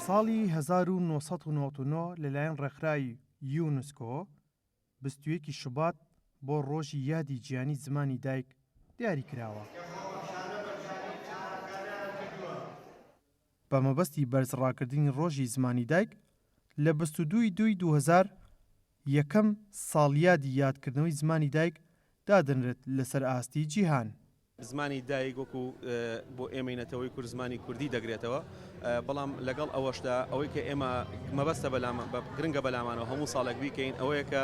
ساڵی هەزار و نۆ سەد و نەوەد و نۆ لەلایەن ڕێکخراوی یونسکۆ بیست و یەک ی شوبات بۆ ڕۆژی یادی جیهانی زمانی دایک دیاری کراوە. بە مەبەستی بەرز ڕاکردنی ڕۆژی زمانی دایک لە بیست و دوو ی دووی دوو هەزار یەکەم ساڵیادی یادکردنەوەی زمانی دایک دادەنرێت لەسەر ئاستی جیهان. زمانی دایک وەکو بۆ ئێمەی نەتەوەی کورد زمانی کوردی دەگرێتەوە، بەڵام لەگەڵ ئەوەشدا ئەوەی کە ئێمە مەبەستە بەلام گرنگە بەلامانەوە هەموو ساڵێک بیکەین ئەوەیە کە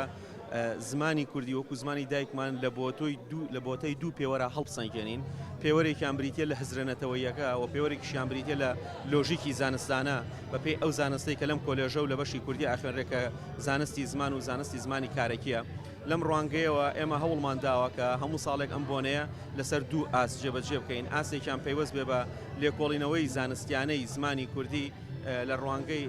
زمانی کوردی وەکو زمانی دایکمان لە بۆتۆی دوو لە بۆتەی دوو پێوەرا هەڵبسەنگێنین، پێوەرێکیان بریتیە لە هزرە نەتەوەییەکە و پێوەرێکیشیان بریتیە لە لۆژیکی زانستانە بە پێی ئەو زانستەی کە لەم کۆلێژە و لە بەشی کوردی ئاخوێنرێ کە زانستی زمان و زانستی زمانی کارەکیە. لەم ڕوانگەیەوە ئێمە هەوڵمان داوە کە هەموو ساڵێک ئەم بۆنەیە لەسەر دوو ئاست جێبەجێ بکەین، ئاستێکیان پەیوەست بێ بە لێکۆڵینەوەی زانستیانەی زمانی کوردی لە ڕوانگەی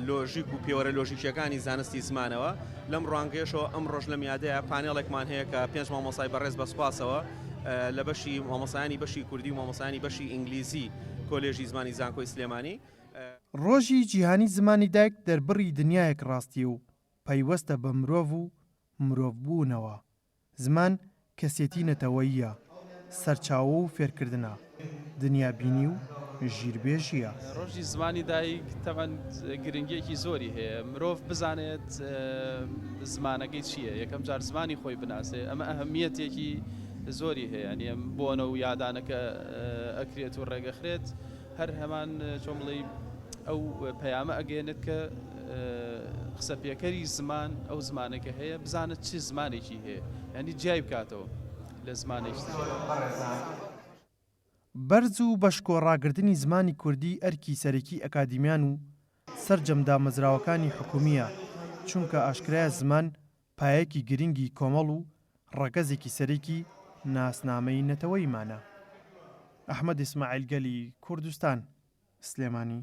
لۆژیک و پێوەرە لۆژیکییەکانی زانستی زمانەوە، لەم ڕوانگەیەشەوە ئەمڕۆش لەم یادەیا پانێڵێکمان هەیە کە پێنج مامۆستای بەڕێز بە سوپاسەوە لە بەشی مامۆستایانی بەشی کوردی و مامۆستایانی بەشی ئینگلیزی کۆلێژی زمانی زانکۆی سلێمانی. ڕۆژی جیهانی زمانی دایک دەربڕی دنیایەک ڕاستی و پەیوەستە بە مرۆڤ و مرۆڤبوونەوە. زمان کەسێتی نەتەوەییە، سەرچاوە و فێرکردنە، دنیابینی و ژیربێژییە. ڕۆژی زمانی دایک تەبعەن گرنگییەکی زۆری هەیە، مرۆڤ بزانێت زمانەکەی چییە، یەکەم جار زمانی خۆی بناسێت، ئەمە ئەهمییەتێکی زۆری هەیە، یانێ بۆنە و یادانەکە ئەکرێت و ڕێگەخرێت هەر هەمان چۆن بڵێی ئەو پەیامە ئەگەیەنێت کە قسەپێکەری زمان ئەو زمانێکە هەیە بزانە چی زمانێکی هەیە ینی جیای بکاتەوە لە زمانێکی. بەرز و بەشکۆ ڕاگرتنی زمانی کوردی ئەرکی سەرەکی ئەکادیمیان و سەرجەم دامەزراوەکانی حکومییە، چونکە ئاشکرایە زمان پایەکی گرنگی کۆمەڵ و ڕەگەزێکی سەرەکی ناسنامەی نەتەوەیمانە. ئەحمەد ئیسماعیل گەلی کوردستان، سلێمانی.